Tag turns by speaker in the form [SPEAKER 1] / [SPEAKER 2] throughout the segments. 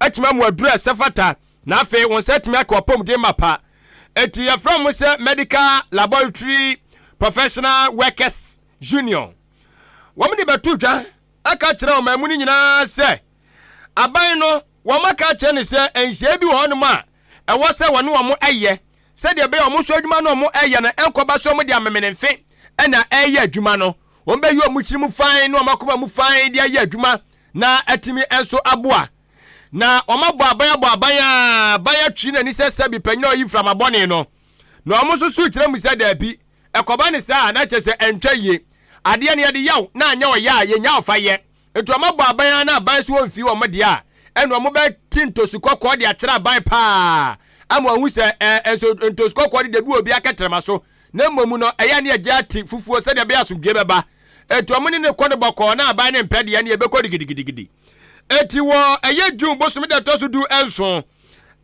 [SPEAKER 1] atumi amu aduru a ɛsɛ fata, na afei wɔn nsa atumi aka ɔpɔmuden mapa. Enti yɛfrɛ wɔn sɛ Medical Laboratory Professional Workers Union. Wɔn de bɛto dwa aka kyerɛ wɔn mu no nyinaa sɛ aban no wɔn aka kyerɛ ne sɛ nhyɛn bi wɔ hɔnom a ɛwɔ sɛ wɔne wɔn yɛ sɛdeɛ ɛbɛyɛ wɔn so adwuma no wɔn ɛyɛ no ɛnkɔba so wɔn de amemenemfe ɛna ɛyɛ adwuma no wɔn bɛyi wɔn kyiri mu fan ne wɔn akoma mu fan de ayɛ adwuma na atumi nso aboa na wɔn abɔ aban abɔ aban a aban atwi na nisɛ sɛ bi panyin a ɔyi mframa bɔne no na wɔn nso so kyerɛ mu sɛ daabi ɛkɔba ne saa na kyɛ sɛ ɛntwa yie adeɛ no yɛde yaw na anyɛ ɔyɛ a yɛnya ɔfa yɛ Nti wɔn abɔ aban ara na aban so wɔn mfii wɔn deɛ a, ɛna wɔn bɛ ti ntosu kɔkɔɔ de akyerɛ aban paa ama wɔn hu sɛ ɛɛ eh, nso ntosu kɔkɔɔ de debi wɔ obi akɛtɛrɛma so na mmom no ɛyɛ ne ɛgye ate fufuo sɛdeɛ ɛbɛyɛ asomdwie bɛba. Eti wɔn ne ne kɔ no bɔkɔɔ na aban ne mpɛ deɛ ne ɛbɛkɔ digidigidi. Eti wɔ ɛyɛ June bosome da ɛtɔ so du nson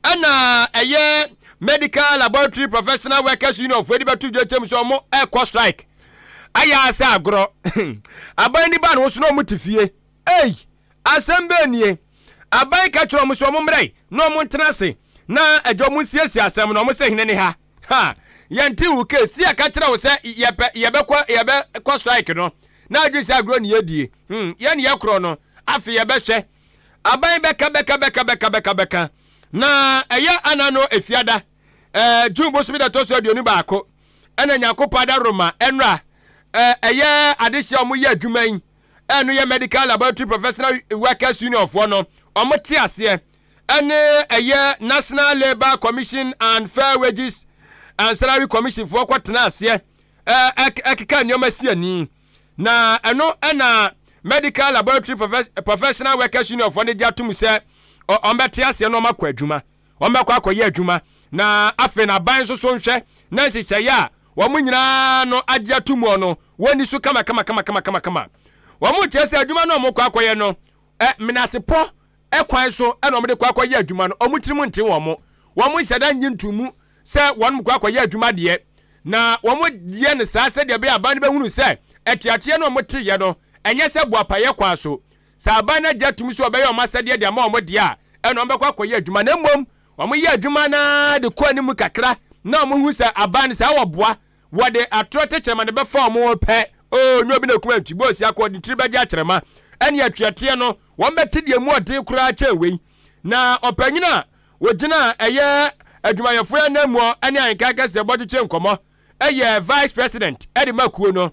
[SPEAKER 1] Ɛna ɛyɛ Medical Laboratory Professional Workers Union foɔ de bɛto dwa kyɛm sɛ wɔn ɛkɔ strike ayɛ asɛ agorɔ aban ni ba no so na wɔn te fie ei asɛm bɛɛ nie aban ka kyerɛ wɔn sɛ wɔn mmerɛ na wɔn ntena ase na ɛgya wɔn nsiesie asɛm na wɔn sɛ hene ne ha ha yɛn ti wo ke si ɛka kyerɛ wo sɛ yɛpɛ yɛbɛkɔ yɛbɛkɔ strike no na adwi sɛ agorɔ ne yɛdie hmm yɛn yɛ korɔ no afei yɛbɛhwɛ aban bɛka bɛka bɛka bɛka bɛka bɛka na ɛyɛ ana no efiada ɛɛ eh, june bosomi da tɔ so aduonu baako ɛna nyankopɔn ada roma ɛnra eh, ɛyɛ adehyɛ ɔmo yɛ adwuma yi ɛno yɛ medical laboratory professional workers union foɔ no ɔmo te aseɛ ɛne ɛyɛ national labour commission and fair wages and salary commission foɔ kɔ tena aseɛ ɛkeka nneɛma si ani Na ɛno na Medical Laboratory Professional Workers Union foɔ no gye atom sɛ wɔbɛte aseɛ na wɔakɔ adwuma wɔbɛkɔ akɔyɛ adwuma na afei na aban nso so nhwɛ na nhyehyɛeɛ a wɔn nyinaa no agye ato mu no wɔnni so kama kama kama kama kama kama wɔn kyerɛ sɛ adwuma no wɔkɔ akɔyɛ no menasepɔ kwan so na wɔde kɔ akɔyɛ adwuma no, wɔn tirim nte wɔn, wɔn nhyɛ da nnye ntom mu sɛ wɔkɔ akɔyɛ adwuma deɛ, na wɔyɛ no saa sɛdeɛ ɛbɛyɛ a aban no bɛhunu sɛ atuateɛ no a wɔteeɛ no nyɛ sɛ boapayɛ kwan so. Sɛ aban no agye atom sɛ wɔbɛyɛ wɔn asɛdeɛ de ama wɔn deɛ a, ɛnna wɔbɛkɔ akɔyɛ adwuma, na mmom wɔyɛ adwuma no ara de kɔ anim kakra na wɔhu sɛ aban no, sɛ wɔboa Wɔde atorɔ tɛkyerɛma na ɛbɛfa wɔn ho pɛ. Oo, nyɛ obi na kum antwi bɔ osiakɔ, ɔde ne tiri bɛgye akyerɛma. Ɛnneɛ tweateɛ no, wɔbɛte deɛ emu ɔden koraa kyɛn wei. Na ɔpanyin a ɔgyina ɛyɛ adwumayɛfoɔ ananmuɔ ne ahenka kɛseɛ bɔtwetwe nkɔmmɔ yɛ vice president de ma kuo no.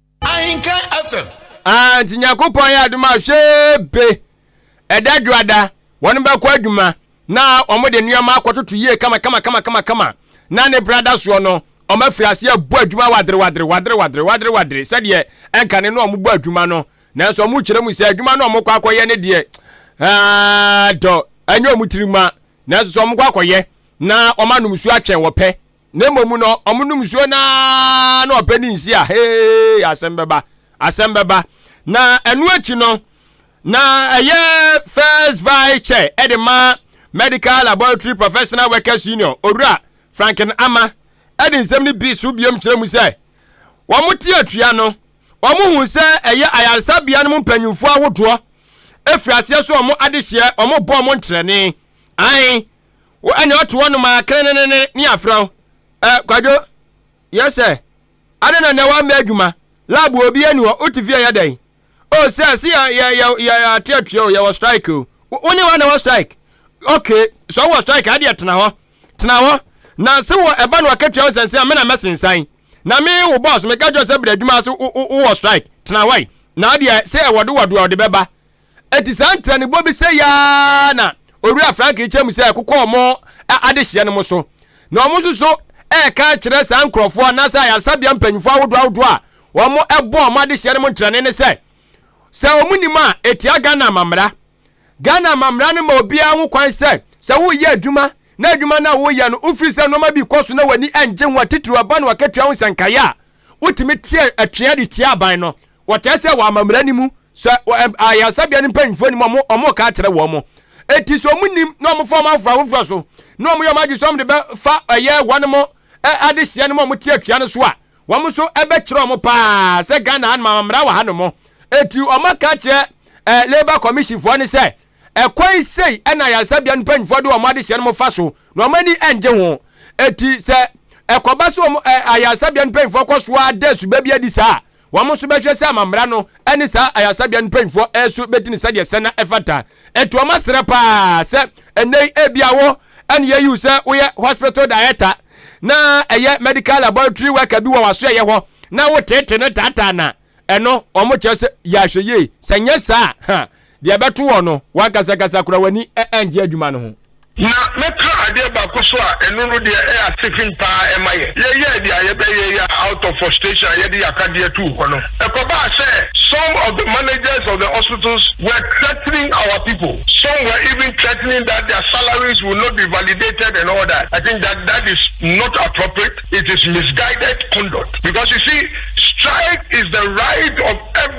[SPEAKER 2] Ahenka
[SPEAKER 3] FM. Ah, nti Nyankopɔn
[SPEAKER 1] yɛ adom a hwee be ɛda dwoada wɔn bɛkɔ adwuma na wɔn de nneɛma akɔtoto yie kama kama kama kama kama na ne bra da soɔ no wɔn afiri aseɛ bɔ adwuma wadere wadere wadere wadere wadere wadere sɛdeɛ ɛnka ne no wɔn bɔ adwuma no nanso wɔn kyerɛ mu sɛ adwuma no wɔn kɔ akɔyɛ ne deɛ ah, dɔ ɛnyɛ wɔn tiri ma nanso sɛ wɔn kɔ akɔyɛ na wɔn anom su atwɛn wɔpɛ Na mmom no, wɔnom nsuo no ara na ɔpɛ ne nsi a hee asɛm bɛba asɛm bɛba na ɛno akyi no na ɛyɛ first vice chair ɛde ma medical laboratory professional workers union owura franklin ama ɛde nsɛm no bi so biom kyerɛ mu sɛ wɔn te atua no wɔn hu sɛ ɛyɛ ayaresabea no mu mpanyinfoɔ ahodoɔ efiri aseɛ so wɔn adehyeɛ wɔn bɔ wɔn ntrɛne ahen. wo ɛne ɔto hɔ nom a krenenene ne afrɛ wo ɛ kwadwo yɛ sɛ adɛn na nɛ wammɛ adwuma lab obi ani hɔ wote fie yɛ dɛn o oh, sɛ se yɛate atua o yɛwɔ strike o wo ne hɔ na wɔ strike ok sɛ wowɔ strike adeɛ tena hɔ tena hɔ na se wɔ ɛba no ɔka tua wo sɛnse a me na mɛsensan na me wo boss meka kyerɛ sɛ brɛ adwuma ase wowɔ strike tena hɔ na adeɛ sɛ ɛwɔdewɔdeɛ ɔde bɛba Enti saa ntiranibɔ bi sɛ yaa na Owura Frank rekyerɛ mu sɛ ɛkokɔ wɔn adehyeɛ no mo so. Na wɔn nso so reka akyerɛ saa nkurɔfoɔ anaasɛ ayaresabea mpanyinfoɔ ahodoɔ ahodoɔ a wɔbɔ wɔn adehyeɛ no mo ntrane no sɛ, sɛ wɔn nim a, ɛtia Ghana amammara. Ghana amammara no ma obiara ho kwan sɛ, sɛ woreyɛ adwuma na adwuma no a woreyɛ no wofiri sɛ nnoɔma bi rekɔ so na w'ani nnye ho a, titiriw ɛba no w'akatua ho nsɛnkaeɛ a, wotumi teɛ atweaa de tia aban no. Wɔtaa sɛ wɔ amammerɛ no mu, sɛ ayaresabea no mpanyimfo anim a wɔreka akyerɛ wɔn. Enti sɛ wɔnim na wɔfa wɔn afoforo afoforo so na wɔyɛ wɔn adwene sɛ wɔde bɛfa ɛyɛ wɔnom adehyeɛ no ma wɔte atua no so a, wɔn nso ɛbɛkyerɛ wɔn paa sɛ Ghana hanom amammerɛ wɔ hanom. Enti wɔaka akyerɛ Labour Commission foɔ no sɛ ɛkwan sei na ayaresabea no mpanyimfoɔ de wɔn adehyeɛ nom fa so na wɔn ani ngye ho. Enti sɛ ɛkɔba sɛ wɔn ayaresabea no mpanyimfoɔ kɔ so ara da asuba bi adi saa a, Wɔn nso bɛhwɛ sɛ amammara no ne saa ayaresabea no mpanyinfoɔ nso bɛdi no sɛdeɛ sɛ na ɛfata. Ɛto wɔn asrɛ paa sɛ ɛnnɛ yi ebia wo ɛne yɛyi wo sɛ woyɛ hospital director na ɛyɛ medical laboratory worker bi wɔ w'asoɛyɛ hɔ na woteete no taataa na ɛno wɔn kyerɛ sɛ yɛ ahwɛ yie sɛ nyɛ saa ha Deɛ ɛbɛto wɔn no, w'ankasakasa koraa w'ani anngye adwuma no ho. Na mɛka
[SPEAKER 2] adeɛ baako so a ɛno no deɛ ɛyɛ asefem pa ara ɛma yɛ. Yɛyɛɛ deɛ a yɛbɛyɛ yi a out of frustration a yɛde yɛ akadeɛ too hɔ no, ɛkɔbaa sɛ some of the managers of the hospitals were threatening our people, some were even threatening that their salaries will not be validated and all that. I think that that is not appropriate, it is misguided conduct because you see strike is the right of every.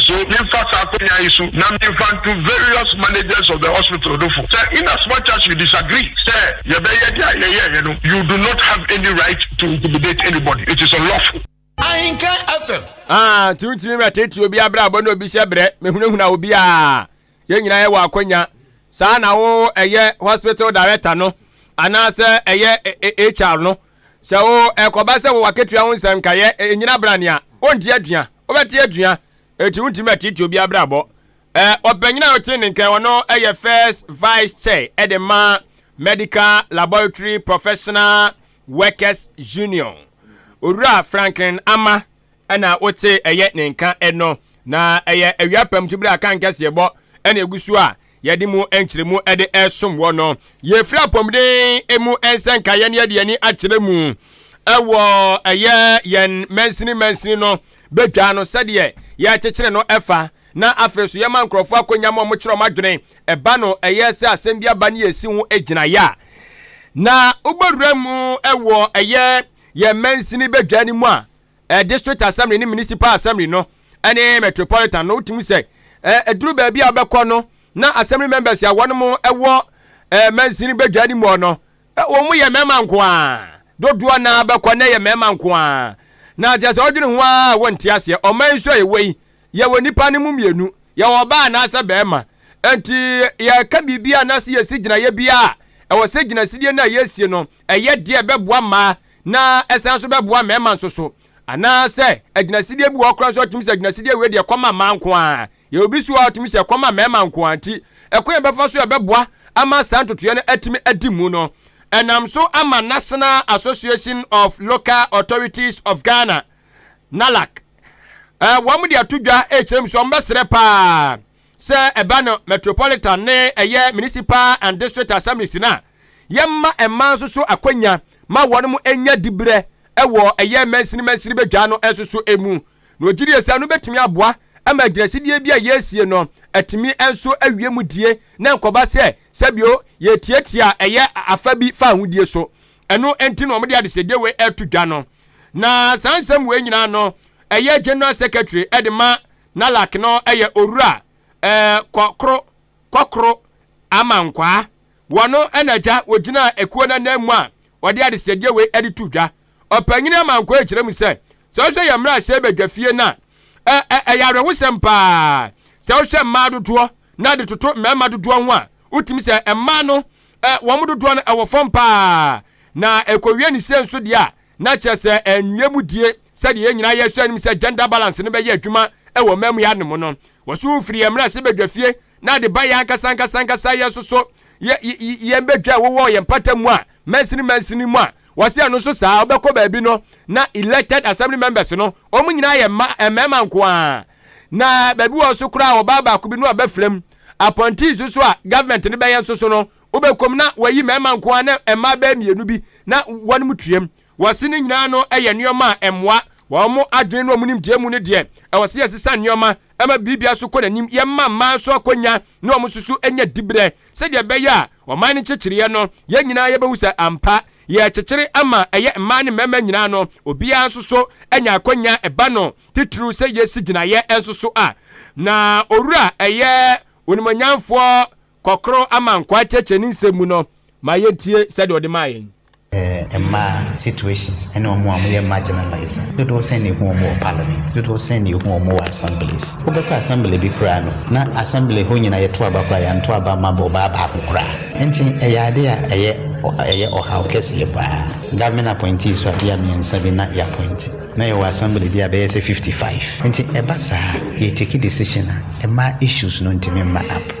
[SPEAKER 2] So memfa saa akwanya yi so na memfa nto various managers of the hospital no fo sɛ in as much as you disagree sɛ yɛbɛyɛ deɛ yɛyɛeɛ no, you do not have any right to intimidate anybody, it is unlawful. Ahenka
[SPEAKER 3] FM. Ah, nti wontumi mɛtete
[SPEAKER 1] obi abrabɔ na obi hyɛ brɛ mehunahuna obi a yɛn nyinaa yɛwɔ akwanya saa na wo ɛyɛ hospital director no anaasɛ ɛyɛ hr no sɛ wo ɛkɔba sɛ wowɔ akatua ho nsɛm nkaeɛ ɛnyina bra nea wonte atua Wobɛte atua, enti wontumi atiatia obi abrabɔ. Eh, ɔpanyin a ɔte ne nkan, ɔno yɛ First Vice Chair de ma Medical Laboratory Professional Workers Union. Owura Franklin Ama na wote ɛyɛ ne nka no, na ɛyɛ awia pamtu bere a kan kɛseɛbɔ na egu so a yɛde mu nkyerɛmu de ɛsom wɔ no yɛfiri apɔmuden mu nsɛnka yɛne yɛde ani akyerɛ mu ɛwɔ ɛyɛ yɛn mansini mansini no bɛtwa no sɛdeɛ yɛkyekyere no ɛfa na afei so yɛma nkurɔfoɔ akɔnya ma ɔmokyerɛ ɔm adwene ɛba no ɛyɛ sɛ asɛm bi aba ne yɛsi ho gyinaeɛ a na wobɛwura mu ɛwɔ ɛyɛ yɛn mansini bɛdwa no mu a eh, district assembly ne municipal assembly no ɛne metropolitan no wotumi sɛ eh, ɛduru baabi a wobɛkɔ no na assembly members a wɔn mo ɛwɔ eh, mansini badwa no mu no eh, wɔn mu yɛ mmarima nko a dodoɔ na bɛkɔ na ɛyɛ mmarima nko a na kyerɛ sɛ ɔdwene ho a wɔnte aseɛ ɔman nso a yɛwɔ yi yɛwɔ nipa no mu mmienu yɛwɔ ɔbaa anaasɛ bɛrima nti yɛka biribi a na sɛ yɛsi gyinaeɛ bi a ɛwɔ sɛ gyinasidie no a yɛsie no ɛyɛ deɛ ɛbɛboa mmaa na ɛsan nso bɛboa mmarima nso so anaasɛ agyinasideɛ bi wɔ koraa nso ɔtumi sɛ agyinasideɛ wei deɛ ɛkɔ ma mmaa nko ara yɛ obi so a ɔtumi sɛ ɛkɔ ma mmarima nko ara nti ɛkwan a ɛbɛfa so ɛbɛboa ama saa ntotoeɛ no atumi adi mu no ɛnam so ama national association of local authorities of ghana nalac wɔn de ato dwa ɛkyerɛ mu sɛ wɔn bɛsrɛ paa Sɛ ɛba no metropolitan ne ɛyɛ municipal and district assemblies no a, yɛmma ɛma nso so akwanya ma wɔn mo nya dibrɛ ɛwɔ ɛyɛ mansini mansini badwa no nso so emu. Na ɔgye die sɛ no bɛtumi aboa ama agyinasidie bi a yɛresie no atumi nso awie mu die na nkɔba sɛ sɛbio yɛtiatia ɛyɛ afa bi fa ahodie so. Ɛno nti na wɔde adesɛdeɛ wei ɛto dwa no. Na saa nsɛm wei nyinaa no ɛyɛ General Secretary ɛde ma Na lak no yɛ owura eh, kɔ koro, kɔ koro ama nkwaa. Wɔno na agya wɔgyinaa akuo no anan mu a wɔde adesrɛdeɛ wei de too dwa. Ɔpanyin Amankwaa kyerɛ mu sɛ, sɛ wohwɛ yɛn mmarahyɛ badwafie no a, ɛ, ɛ, ɛyɛ awerɛhosɛm pa ara. Sɛ wohwɛ mmaa dodoɔ na de toto mmarima dodoɔ ho a, wotumi sɛ mmaa no, ɛ, wɔn dodoɔ no ɛwɔ fam pa ara. Na ɛkɔwie ne sei nso deɛ a, Na kyerɛ sɛ ɛnwie mu die, sɛdeɛ yɛn nyinaa yɛsua no mu sɛ gender balance no bɛyɛ adwuma wɔ mmaamua no mu no, wɔso wo firi yɛn mmarahyɛbadwa fie na ade ba yɛn ankasa ankasa ankasa yɛn nso so, yɛ, yɛn badwa a wɔwɔ yɛn mpata mu a, mansini mansini mu a, wɔse ɛno nso saa, wobɛkɔ baabi no, na elected assembly members no, wɔn nyinaa yɛ mma, mmarima nko ara. Na baabi wɔ nso koraa wɔbaa baako bi no a bɛfrɛ mu, appointees nso a government no bɛyɛ nso so no, Wobɛkɔ mu na wɔayi mmarima nko ara ne mmaa bɛyɛ mmienu bi na wɔnom tuam. Wɔse ne nyinaa no yɛ nneɛma a ɛmmoa wɔn adwene ne wɔn nimdeɛ mu no deɛ, ɛwɔ sɛ yɛsesa nneɛma ma biribia so kɔ n'anim. Yɛmma mmaa nso akwanya ne wɔn nso so nya diberɛ sɛdeɛ ɛbɛyɛ a ɔman no nkyekyereɛ no, yɛn nyinaa yɛbɛhu sɛ ampa yɛrekyekyere ama ɛyɛ mmaa ne mmarima nyinaa no, obiara nso so anya akwanya ɛba no titiriw sɛ yɛsi gyinaeɛ nso so a. Na Owura ɛyɛ Onimuonyamfoɔ Kɔkɔrɔ ama nkwaa kyɛkyɛ ne nsɛm mu no ma yɛntie sɛdeɛ ɔde maa yɛn. Mmaa, situations,
[SPEAKER 4] ne wɔn a wɔyɛ marginalize no, dodoɔ sɛn na yɛhu wɔn wɔ parliament? Dodoɔ sɛn na yɛhu wɔn wɔ assemblies? Wobɛkɔ assembly bi koraa no, na assembly hɔ nyinaa yɛto aba koraa yɛanto aba amma ɔbaa baako koraa. Enti ɛyɛ adeɛ a ɛyɛ ɛyɛ ɔhaw kɛseɛ paa. Government appointees a bia mmiɛnsa bi na yɛappointe, na yɛwɔ assembly bi a ɛbɛyɛ sɛ fifty five. Enti ɛba saa a, yɛretake decision a, mmaa issues no ntumi mma up.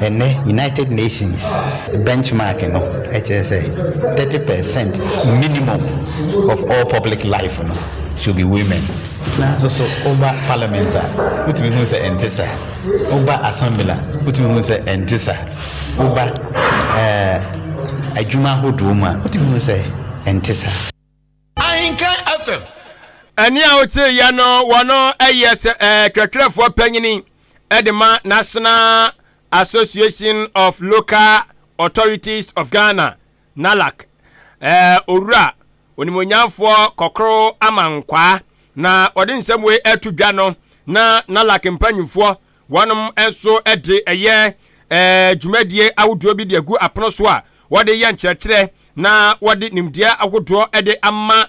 [SPEAKER 4] Ɛnnɛ United Nations benchmark no kyerɛ sɛ thirty per cent minimum of all public life no should be women. Nanso so woba parliament a wotumi hu sɛ ɛnte saa, woba assembly a wotumi hu sɛ ɛnte saa, woba ɛɛ adwuma ahodoɔ mu a wotumi hu sɛ ɛnte saa. Ahinka
[SPEAKER 3] FM. Ɛne a
[SPEAKER 1] wote yɛ no wɔno ɛyɛ sɛ ɛɛ twɛtwerɛfoɔ panyini ɛde ma National Association of Local Authorities of Ghana NALAC ɛɛ owura onimonyamfoɔ kɔkoro amankwaa na ɔde nsɛm wei ɛto dwa no na NALAC mpanyinfoɔ Wɔnom nso de ɛyɛ ɛɛ dwumadie ahodoɔ bi de agu apono so a wɔde yɛ nkyerɛkyerɛ na wɔde nimdeɛ ahodoɔ de ama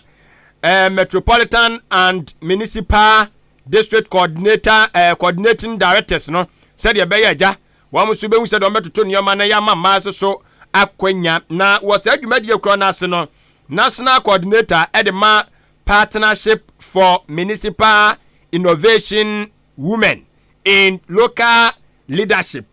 [SPEAKER 1] ɛɛ Metropolitan and Municipal District Coordinator ɛɛ Coordinating Directors no sɛdeɛ ɛbɛyɛ agya wɔn nso bɛhu sɛdeɛ wɔbɛtoto nneɛma na yɛama mmaa nso so akwanya na wɔ saa dwumadie korɔ no ase no National Coordinator de ma Partnership for Municipal Innovation Women in Local Leadership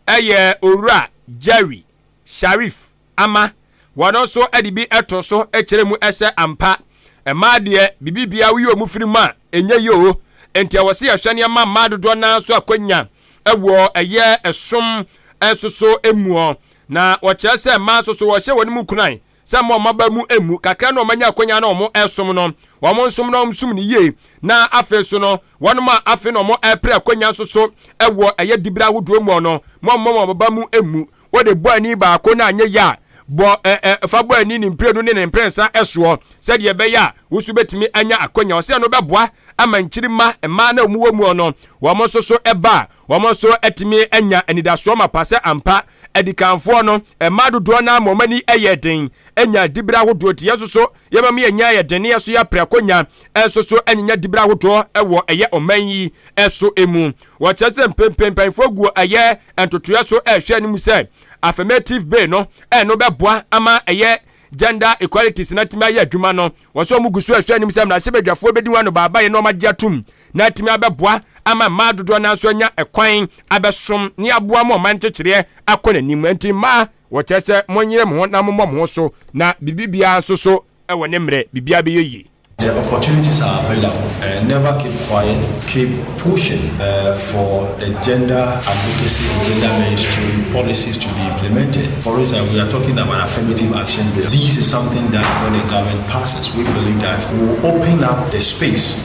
[SPEAKER 1] yɛ Owura Jerry Sharif Ama. Wɔno nso de bi to so kyerɛ mu sɛ ampa mmaa deɛ bibibia woyi wɔn firi mu a ɛnyɛ yie o. Nti ɛwɔ sɛ yɛhwɛ nneɛma mmaa dodoɔ naa nso akwanya wɔ ɛyɛ ɛsom nso so muɔ. Na wɔkyerɛ sɛ mmaa nso so wɔhyɛ wɔn mu nkuran sɛ mma wɔn aba mu mmu, kakra na wɔanya akwanya na wɔresom no, wɔn nsom na wɔsom no yie, na afei nso no, wɔnom a afei na wɔrepere akwanya nso so wɔ ɛyɛ dibere ahodoɔ mu no, mma wɔn wɔn aba mu mmu. Wode bɔ ani baako na anyɛ yɛ a, bɔ ɛ ɛ fa bɔ ani ne mprenu ne ne mprɛnsa soɔ, sɛdeɛ ɛbɛyɛ a wo nso bɛtumi anya akwanya. Ɔsɛ no bɛboa ama nkyirimma, mmaa na wɔwɔ mu no, wɔn nso so ba a, Wɔn nso atumi anya anidasoɔ mapa sɛ ampa adikanfoɔ no, mmaa dodoɔ no ara ma wɔn ani yɛɛ den nyaa diberɛ ahodoɔ. Enti yɛn nso so yɛma mu yɛ nya yɛ den na yɛn nso yɛ prɛko nya nso so nyinya diberɛ ahodoɔ wɔ ɛyɛ ɔman yi so mu. Wɔkyerɛ sɛ mpempem mpanyinfoɔ gu ɛyɛ ntotoeɛ so ɛrehwɛ anim sɛ affirmative bill no ɛno bɛboa ama ɛyɛ gender equalities na tumi ayɛ adwuma no. Wɔsɛ wɔn gu so ɛrehwɛ anim sɛ mmarahyɛbadwafoɔ bɛdi ho anobaabaeɛ na wɔn agye atum. na atumi abɛboa ama mmaa dodoɔ no nso anya ɛkwan abɛsom ne aboa ma ɔman nkyekyereɛ akɔ n'anim nti mmaa wɔkyerɛ sɛ monyere mo ho na mommɔ mo ho so na biribiara nso so wɔ ne mmerɛ biribiara bɛyɛ yie. The opportunities
[SPEAKER 5] are available and never keep quiet, keep pushing uh, for the gender advocacy and gender mainstream policies to be implemented. For instance, we are talking about affirmative action bill. This is something that when the government passes, we believe that will open up the space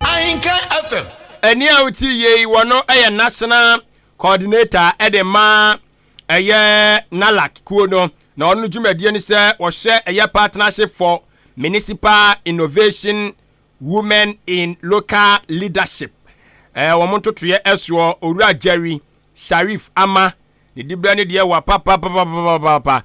[SPEAKER 5] Ahinka
[SPEAKER 3] FM. Ɛni a wotie
[SPEAKER 1] yei wɔno ɛyɛ national coordinator ɛde ma ɛyɛ NALAC kuo no na ɔno dwumadie no sɛ wɔhwɛ ɛyɛ partnership for municipal innovation women in local leadership ɛɛ wɔn ntotoyɛ ɛsoɔ owura Jerry Sharif ama ne dibrɛ ne deɛ wɔ papapapapapa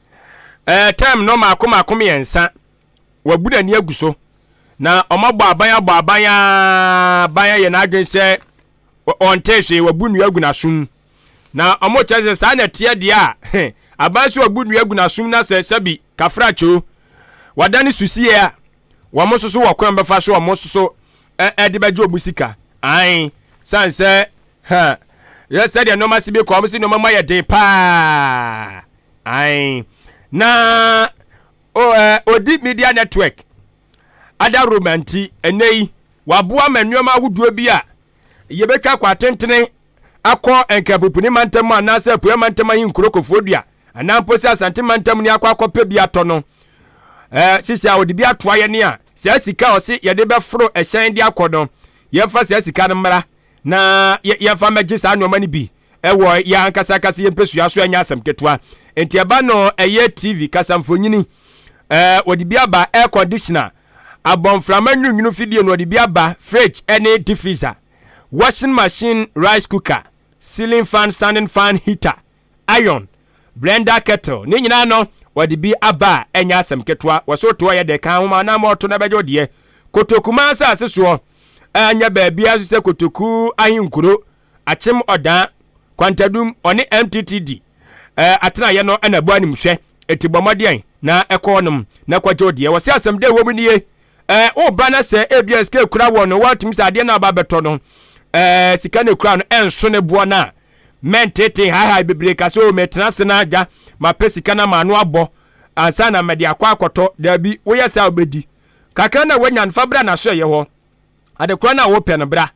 [SPEAKER 1] Ɛɛ term no mako mako mmiɛnsa. Wɔabu n'ani agu so. Na wɔabɔ aban abɔ aban a ban ayɛ n'adwene sɛ ɔnte hwee wɔabu nnua agu n'asom. Na wɔkyerɛ sɛ saa na ɛteɛ deɛ a aban so wɔabu nnua agu n'asom na sɛ sɛbi kafrakyo wɔada ne susie a wɔn nso so wɔ kwan bɛfa so wɔn nso so ɛde bɛgye wɔn sika. Ae san sɛ ha yɛ sɛdeɛ nneɛma si bi kɔ wɔn si nneɛma ma yɛ den paa. Ae. Na o ɛ odi media network adaworoma nti, ɛnnɛ yi waboa ma nneɛma ahodoɔ bi a yɛbɛtwa kɔ atentene akɔ Nkrapopuni mantam anaasɛ Apueɛ mantam ahenkuro Kofoɔdua anaa mpo sɛ Asante mantam ni akɔ akɔpɛ bi atɔ no ɛ sisi a ɔde bi atoa yɛne a saa sika a ɔse yɛde bɛforo ɛhyɛn de akɔ no yɛmfa saa sika no mmra na yɛmfa mmɛgye saa nneɛma no bi wɔ yɛn ankasa ankasa yɛn mpɛsua so ɛnyɛ asɛm ketewa nti ɛba no ɛyɛ tv kasamfonyini ɛɛ wɔde bi aba air conditioner abɔnframa nwunwunu fidie no wɔde bi aba fridge ɛne diffuser washing machine rice cooker ceiling fan standing fan heater iron, blender kettle, ne nyinaa no wɔde bi aba a ɛnyɛ asɛm ketewa, wɔso toɔ yɛ de ka ho ma na ama ɔto no bɛgye wo deɛ. Kotoku man asase soɔ ɛnyɛ baabiara nso sɛ Kotoku ahenkuro, Akyem Ɔdaa, Kwantadum, ɔne MTTD ɛɛ atenaeɛ no na ɛbɔ animhwɛ. Eti bɔ mmɔden na ɛkɔ hɔnom na kɔgye wo deɛ. Wɔse asɛm dɛ wɔ mu nie, ɛɛ woba na sɛ ebia sika ekura wɔ no, wɔatumi sɛ adeɛ no a aba abɛtɔ no, ɛɛ sika no ekura no ɛnso ne boɔ no a, Mɛnteetee haehae bebree ka sɛ, 'O, metena ase na agya, mapɛ sika na m'ano abɔ ansa na mede akɔ akɔtɔ. Dabi, woyɛ saa a wobɛdi. Kakra no a woanya no, fa bra n'asoɛeɛ hɔ. Ade korɔ no a wopɛ no, bra.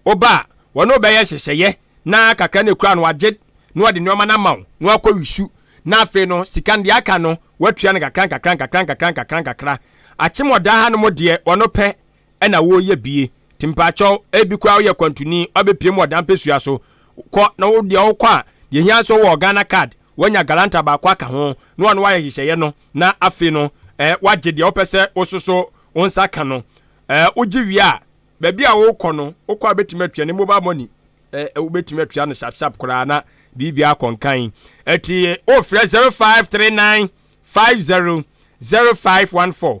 [SPEAKER 1] Woba a, wɔne wo bɛyɛ nhyehyɛeɛ na kakra no a ɛkura no wagye na wɔde nneɛma no ama wo na woakɔ wisu. Na afei no, sika no deɛ aka no, woatua no nkakrankakra nkakrankakra nkakrankakra. Akyem ɔdaa hanom deɛ, ɔno pɛ. na woreyɛ bie nti mpakyɛw ebi koraa woyɛ kwantuni ɔbɛpiem wɔ dan pɛsua so kɔ na wo deɛ wokɔ a deɛ ehia nso wɔ Ghana card wanya galanta baako aka ho na wɔn wayɛ hyehyɛeɛ no na afei no ɛɛ eh, wagye deɛ wopɛ sɛ wososo wo nsa ka no ɛɛ eh, wogye wie a baabi a wokɔ no wokɔ a bɛtumi atua ne mobile money ɛɛ eh, wobɛtumi atua no sapsap koraa na biribi akɔ nkan ɛti wofrɛ 0539 50 0514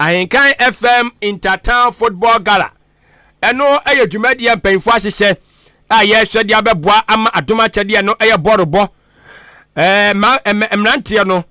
[SPEAKER 1] Ahenkan FM Intertown Football Gala. Ɛno yɛ dwumadie a mpanyinfoɔ ahyehyɛ a yɛrehwɛ de abɛboa ama adom akyɛdeɛ ɛno yɛ bɔɔlobɔ. Ɛɛ ma mmeranteɛ no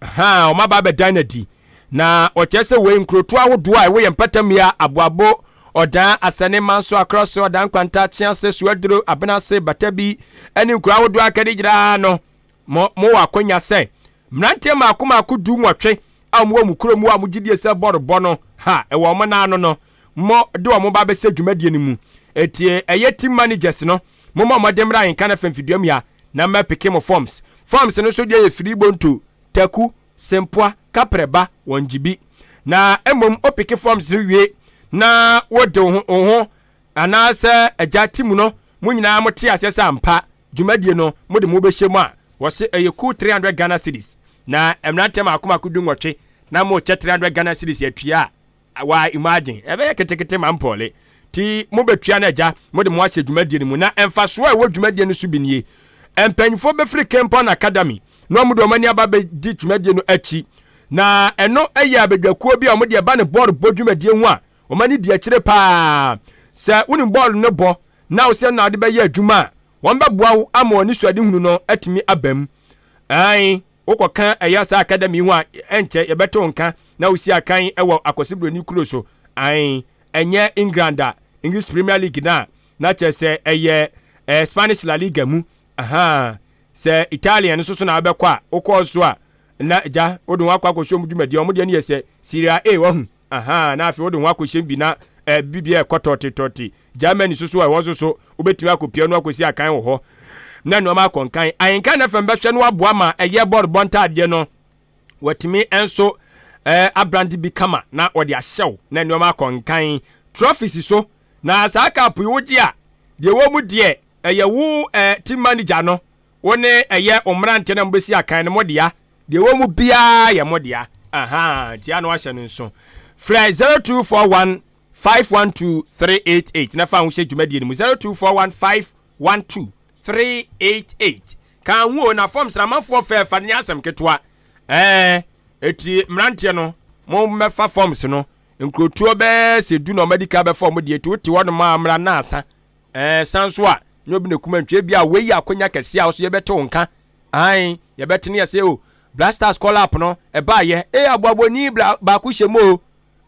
[SPEAKER 1] ha wɔn aba abɛdan n'adi na wɔkyerɛ sɛ wei nkurotoɔ ahodoɔ a ɛwɔ yɛn mpatammea aboabo ɔdan asɛne manso akora so ɔdan kwanta kyease suaduro abenase batabi ɛne nkuro ahodoɔ akɛde gyinaa no Mo, mowɔ akwanya sɛ mmeranteɛ mmaako mmaako du nwɔtwe a wɔwɔ mo kuro mu a mo gyidie sɛ bɔ rebɔ no ha wɔ wɔn nan ano no, mo de wɔn ba bɛhyɛ dwumadie no mu. Enti ɛyɛ team managers no, mo mmɔ mmɔden mmra Ahenka Nafem Fiduamua na mɛ peke mo forms. Forms no nso deɛ yɛ Firi Bonto, Taku, Sempoa, Kaprɛba, wɔn gyibi. Na mmom wo peke forms no wie na wo de wo ho, wo ho anaasɛ agya team no, mo nyinaa mo te aseɛ sɛ ampa Dwumadie no mo de mo bɛhyɛ mu a wɔse ɛyɛ kuo 300 Ghana cedis na mmeranteɛ maako maako du nwɔtwe na mo kyɛ 300 Ghana cedis atua a wa imagine ɛbɛyɛ ketekete ma mpɔle nti mo bɛ tua no agya mo de mo ahyɛ dwumadie no mu na mfasoɔ a ɛwɔ dwumadie no so bi nie mpanyinfoɔ bɛfiri Kempon Academy na wɔn de wɔn ani aba bɛ di dwumadie no akyi na ɛno ɛyɛ abadwakuo bi a wɔn de ɛba no bɔɔl bɔ dwumadie ho a Wɔma no di akyire paa. Sɛ wonim bɔɔlo no bɔ na wosɛ na wode bɛyɛ adwuma a, wɔbɛboa wo ama wɔn suadehunu no atumi abam. Ae, wokɔka ɛyɛ saa akadami ho a, ɛnkyɛ yɛbɛto wo nka na wosi akan wɔ Akwasi Buroni kuro so. Ae, ɛnyɛ England a, English Premier League no a, na kyerɛ sɛ ɛyɛ eh, Spanish La Liga mu. Aha, sɛ Italian nso so na wobɛkɔ a, wokɔɔ so a, na agya wode wɔn akɔ akɔhyɛ wɔn dwumadie. Wɔn deɛ no yɛ sɛ Serie A, wahu. Ahaa, na afei wode wo ho akɔhyem bi na eh, biribi a ɛkɔ tɔtetɔte. Germany so so ɛ, wɔn nso so wobɛtumi akɔpia no akɔsi akan wɔ hɔ na nnoɔma akɔ nkan. Ahenka na fam bɛhwɛ no aboa ma ɛyɛ bɔrebɔ ntaadeɛ no, wɔatumi nso eh, abrande bi kama na wɔde ahyɛ wo na nnoɔma akɔ nkan. Trophies so, na saa cup yi wogye a, deɛ ɛwɔ mu deɛ ɛyɛ wo eh, team manager no wo ne ɛyɛ wo mmeranteɛ na mobɛsi akan no modea deɛ ɛwɔ mu biara yɛ modea aha ntia no ahyɛ no nso frɛ 0241 512388 na fa ho hyɛ dwumadie no mu 0241 512388 ka ho o na fam sramafoɔ fɛ fa no nyɛ asɛm ketewa ɛɛ ɛti mmeranteɛ no mo mmɛfa forms no nkurotuo bɛɛ sɛ du na ɔmadi ka bɛfa ɔmo deɛ ti wote hɔ nom a mmra na asa Ɛɛ, san nso a, nyɛ obi na ekum antwi. Ebia wei yɛ akwanya kɛse a wo nso yɛbɛte wo nka. Ae, yɛbɛte no yɛ sɛ, o, Blasters call up no, ɛbaeɛ. Ee, aboabɔni bla, baako hyɛ mu o.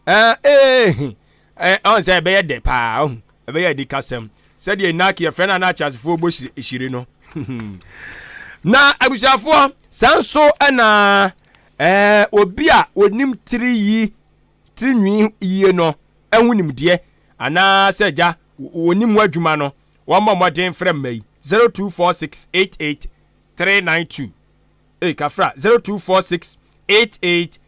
[SPEAKER 1] Ɛɛ, ee, he, ɛɛ, ɔn sɛ ɛbɛyɛ dɛ paa, ɔhu, ɛbɛyɛ anikasɛm. Sɛdeɛ nnaake yɛfrɛ no a na ateasefoɔ bɔ hyire, hyire no. na abusuafoɔ, saa nso na ɛɛ, obi a onim tiri yi, tirinwii yie no ho nimdeɛ anaa sɛ agya wɔnim mu adwuma no, wɔmmɔ mmɔden mfrɛ mma yi 024688392. Ei, kafra 024688320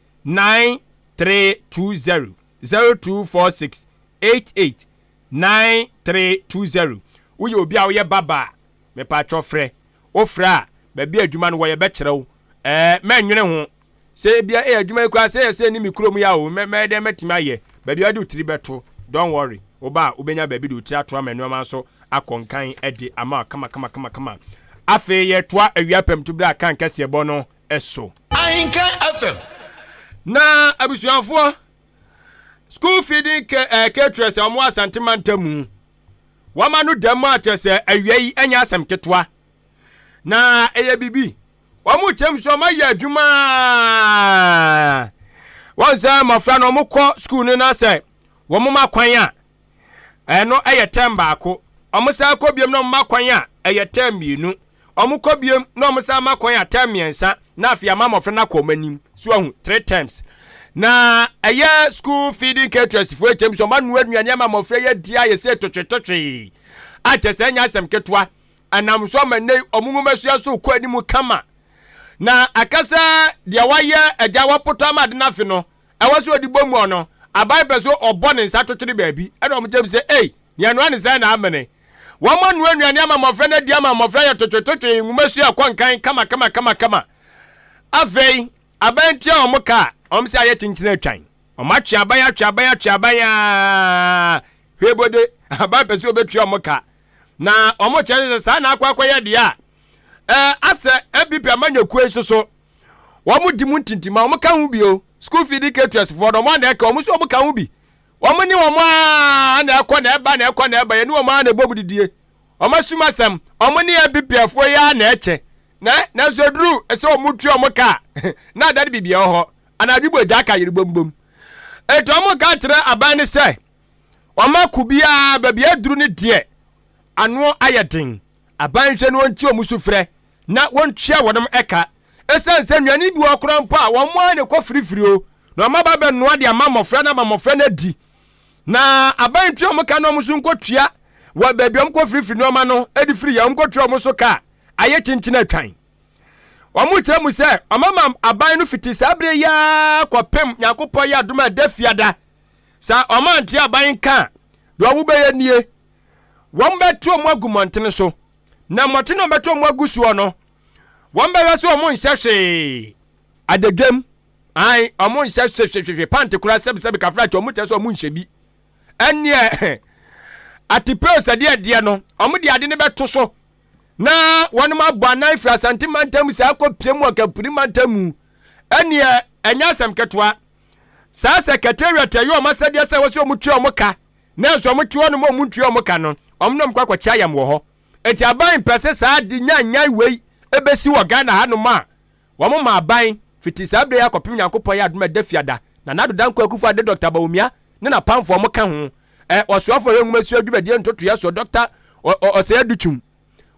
[SPEAKER 1] 024688320 woyɛ obi a woyɛ baba a mepatwɔ frɛ wofrɛ a baabi adwuma no wɔ yɛbɛkyerɛ wo ɛɛ mɛnwene ho Sɛ ebia ɛyɛ adwuma yi koraa sɛ ɛyɛ sɛ ɛne me kurom yɛ a o, mɛ, mɛyɛ dɛn mɛtumi ayɛ. Baabi a wode wo tiri bɛto, don't worry. Wo ba a, wobɛnya baabi de wo tiri ato ama nnoɔma nso akɔ nkan de ama wo kamakamakamakama. Afei yɛretoa awia pamtu berɛ a kan kɛseɛ bɔ no so. Ahenka
[SPEAKER 3] FM. Na
[SPEAKER 1] abusuafoɔ, school feeding ca eh, caterers a wɔn wɔ Asante mantam mu, wɔama no dɛm a kyerɛ sɛ awia yi ɛnyɛ asɛm ketewa. na ɛyɛ biribi wɔn kyɛm so wɔn ayɛ adwuma wɔn sɛ mmɔfra no wɔn kɔ sukuu no na sɛ wɔn ma kwan a ɛno ɛyɛ tɛm baako wɔn san kɔ biom na wɔn ma kwan a ɛyɛ tɛm mmienu wɔn kɔ biom na wɔn san ma kwan a tɛm mmiɛnsa na afei ama mmɔfra no akɔ wɔn anim so ahu three terms na ɛyɛ school feeding caterers foɔ kyɛm so wɔn anoa nnuane ama mmɔfra yɛ di ayɛ sɛ totwetotwe akyɛ sɛ ɛnyɛ asɛm ketewa. Ɛnam so ama nnɛ yi wɔn nwomasua so rekɔ anim kama. Na ɛka sɛ deɛ wayɛ agya wapoto ama ade no afe no, ɛwɔ sɛ ɔde bɔ mu ɔno. Aban pɛ so ɔbɔ ne nsa twetwere baabi ɛna wɔn gyam sɛ ei, nea ɛnoa ne sɛn na amene. Wɔn anoa nnuane ama mmɔfra no adi ama mmɔfra yɛ totwetotwe nwomasua ɛkɔ nkan kamakamakamakama. Afei aban tua wɔn ka a, wɔn sɛ ayɛ kyenkyen atwan. Wɔn atwe aban atwe aban atwe aban aa hwee bode aban pɛ sɛ ɔbɛtua wɔn ka. Na wɔkyerɛ ne sɛ saa na akɔ akɔyɛ deɛ a eh, asɛ ɛbipi ama nyakuo yi soso wɔn di mu ntintim a wɔn ka ho bio school feed caterers foɔ no wɔn na ɛka wɔn nso wɔn ka ho bi wɔn ne wɔn a na ɛkɔ na ɛba na ɛkɔ na ɛba yɛne wɔn a na ɛbɔ mu didie wɔn asum asɛm wɔn ne ɛbipi afoɔ yi a na ɛkyɛ na nanso eduru ɛsɛ wɔn tu wɔn ka na adade biribiara wɔ hɔ anadwo bɔ gya ka yere bom bom etu wɔn ka kyerɛ aban ne sɛ Wɔn ako biara baabi aduru ne deɛ ano ayɛ den. Aban nhwɛ no wɔnti wɔn sufrɛ na wɔntua wɔnom ɛka. Ɛsiane sɛ nnuane bi wɔ hɔ koraa mpo a wɔn ara na ɛkɔ firifiri o na wɔn aba abɛnoa de ama mmɔfra na ama mmɔfra no adi. Na aban ntua wɔn ka na wɔn nso nkɔtua wɔ baabi a wɔkɔ firifiri nneɛma no de firi yɛ wɔnkɔtua wɔn so ka a ayɛ kyenkyen atwan. Wɔkyerɛ mu sɛ wɔama aban no fiti saa bere yi ara kɔpem Nyankopɔn yɛ adom a ɛda fiada. Sɛ wɔn ante aban nka a, deɛ wɔbɛyɛ nie, wɔbɛto wɔn agu mmɔntene so, na mmɔtene a wɔbɛto wɔn agu soɔ no, wɔbɛhwɛ sɛ wɔn nhyɛ hwee. Adagam, ae, wɔn nhyɛ hwehwehwehwe, pante koraa sɛbesɛbe kafra kyɛ, wɔn kyerɛ sɛ wɔn nhyɛ bi. Ɛneɛ, atipeo sɛdeɛ deɛ no, wɔn de ade no bɛto so, na wɔn abɔ anan firi asante mantam saa kɔ pie mu wɔ kampuni mantam mu. Ɛneɛ, ɛnyɛ asɛm ketewa. saa secretariat ɛyɛ wɔn asɛdeɛ sɛ wɔsɛ wɔn tua wɔn ka nanso wɔn te hɔ nom wɔn ntua wɔn ka no wɔn nom kɔ akɔkye ayam wɔ hɔ eti aban mpɛ sɛ saa de nyanyan wei ebesi wɔ ghana ha nom a wɔn ma aban fiti saa bere yɛ akɔpem nyankopɔn yɛ adum ɛda fiada na n'adodankɔ akufo ade dɔkta bawumia ne n'apamfoɔ wɔn ka ho ɛ ɔsoafo yɛ nwoma sua dwumadie ntotoyɛ soɔ dɔkta ɔsɛɛ dutum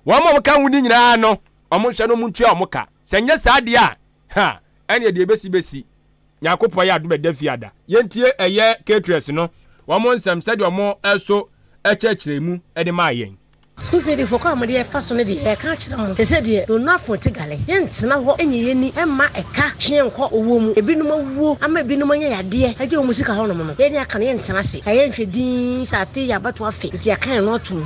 [SPEAKER 1] Wɔn a wɔka ho no nyinaa no, wɔnhwɛ no wɔntua wɔn ka. Sɛ nyɛ saa deɛ a, ha, ɛneɛ deɛ ɛbɛsi bɛsi. Nyankopɔn yɛ adom ɛda fie ada. Yɛntie ɛyɛ caterers no wɔn nsɛm sɛdeɛ wɔn ɛso ɛkyerɛkyerɛ mu ɛde maa yɛn. Sukuu fie defoɔ kwan
[SPEAKER 6] a wɔde ɛfa so no deɛ yɛka akyerɛ mo. Sɛsɛ deɛ Donafo te gale. Yɛntena hɔ nyɛ yɛni mma ɛka twe yɛn nkɔ owuo mu. Ɛbinom awuo ama ɛbinom anya yadeɛ agye wɔn sika hɔnom no, yɛn deɛ aka no yɛntena ase. Ɛyɛ nhwɛ dinn sɛ afei yɛ abatoɔ afe nti yɛaka yɛn ano atom.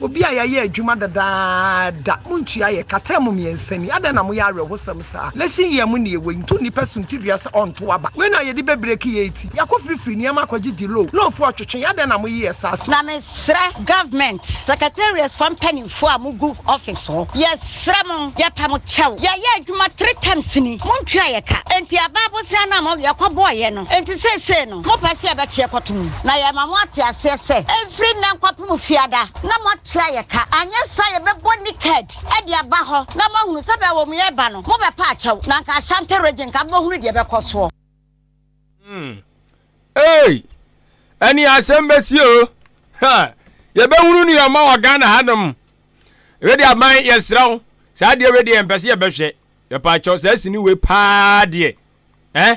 [SPEAKER 7] Obi a yɛayɛ adwuma dadaada, muntua yɛn ka. Tɛɛm mmiɛnsa ni. Adɛn na moyɛ awerɛhosɛm saa? Lɛhye yi a emu nneɛ wɔ yi nto nnipa suntidua sɛ ɔnto aba. Wei na a yɛde bɛbreki yɛn ti. Yɛakɔ firifiri nneɛma akɔgye gye loan. Loanfoɔ retwetwe yɛn. Adɛn na moyeyɛ saa? Na mesrɛ
[SPEAKER 8] government secretariat foɔ mpaninfoɔ a mogu office hɔ, yɛsrɛ mo, yɛpɛ mo kyɛw. Yɛayɛ adwuma three terms ni, montua yɛn ka. Enti abaa bosea no a mo, yɛkɔbɔeɛ no, enti seesei no. Mopɛ sɛ yɛbɛkyeɛ kɔto mu, na yɛama mo ate aseɛ sɛ, ɛmfiri nnɛ nkɔpem Fiada, na moatua ayɛ ka, anyɛ saa a yɛbɛbɔ Niked de aba hɔ, na moahunu sɛ baabi a wɔn reba no, mobɛpa akyɛw, na anka Ashanti Region nka mobɛhunu deɛ ɛbɛkɔ soɔ. Hmm.
[SPEAKER 1] Ei! Ɛneɛ asɛm bɛsi o! Ha! Yɛbɛhunu nea ɔma wɔ Ghana hanom. Wei deɛ aban yɛsrɛ wo, saa adeɛ wei deɛ yɛmpɛ sɛ yɛbɛhwɛ. Yɛpa akyɛw, saa sini wei paa deɛ. Eh?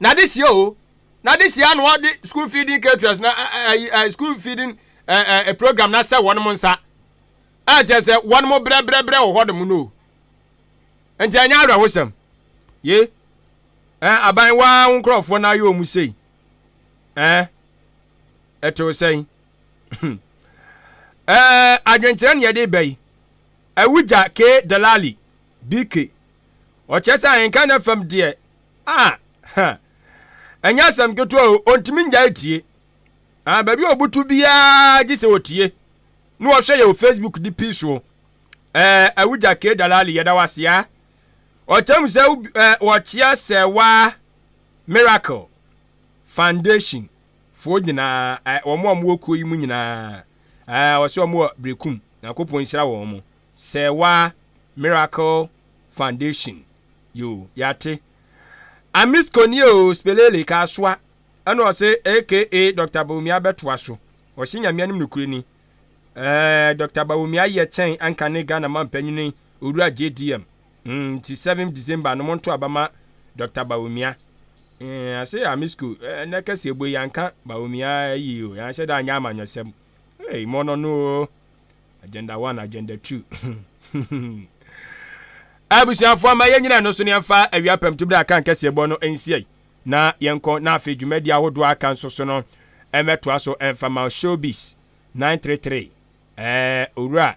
[SPEAKER 1] N'adesua o, n'adesua na wɔde school feeding caterers na ɛyi ɛ school feeding ɛ ɛ program na sɛ wɔn mo nsa. A kyerɛ sɛ wɔn mo brɛbrɛbrɛ wɔ hɔ nom no o. Nti ɛnyɛ awerɛhosɛm. Ye. Ɛ aban waa ho nkurɔfoɔ na ayɛ wɔn sei. Ɛ ɛte wo sɛn? Ɛ adwenkyerɛ ne yɛde ba yi. Awugya K. Delali, BK. Ɔkyerɛ sɛ ahenka na fam deɛ Ah! Ha! Ɛnyɛ asɛm ketewa o, ontumi ngyae tie. Ah, baabi a obutu biara gye sɛ otie. Ne ɔhwɛ yɛ wɔ Facebook de pii so. Eh, Awugya K. Dalali, yɛda wo ase a. Ɔkyerɛ mu sɛ eh, wɔkyea sɛ waa Miracle Foundation foɔ nyinaa, eh, wɔn a wɔwɔ kuo yi mu nyinaa. Eh, ɔsɛ wɔn wɔ Berekum. Nyankopɔn nhyira wɔn mo. Sɛɛwa Miracle Foundation yo yɛate Amis Kɔnie o Spelele Kaasoa ɛna ɔse aka Doctor Bawumia bɛtoa so ɔse Nyame anim nokure ni ɛɛ Doctor Bawumia yɛ kyɛn anka ne Ghana mampanyini Owura JDM mm nti 7 December no monto aba ma Doctor Bawumia mm ase Amisco ɛnɛ kɛseɛ bɔ yi anka Bawumia ayi o yɛanhyɛ da anyɛ amanyɔsɛm ei mɔnɔno o. agenda one agenda two abusuafoɔ ma yɛn nyinaa no so ne yɛmfa awia pɛm to bere a kan kɛseɛ bɔ no nsiai na yɛnkɔ na afei dwumadi ahodoɔ aka nso so no ɛmɛtoa so ɛmfa ma showbiz 933 ɛɛ owura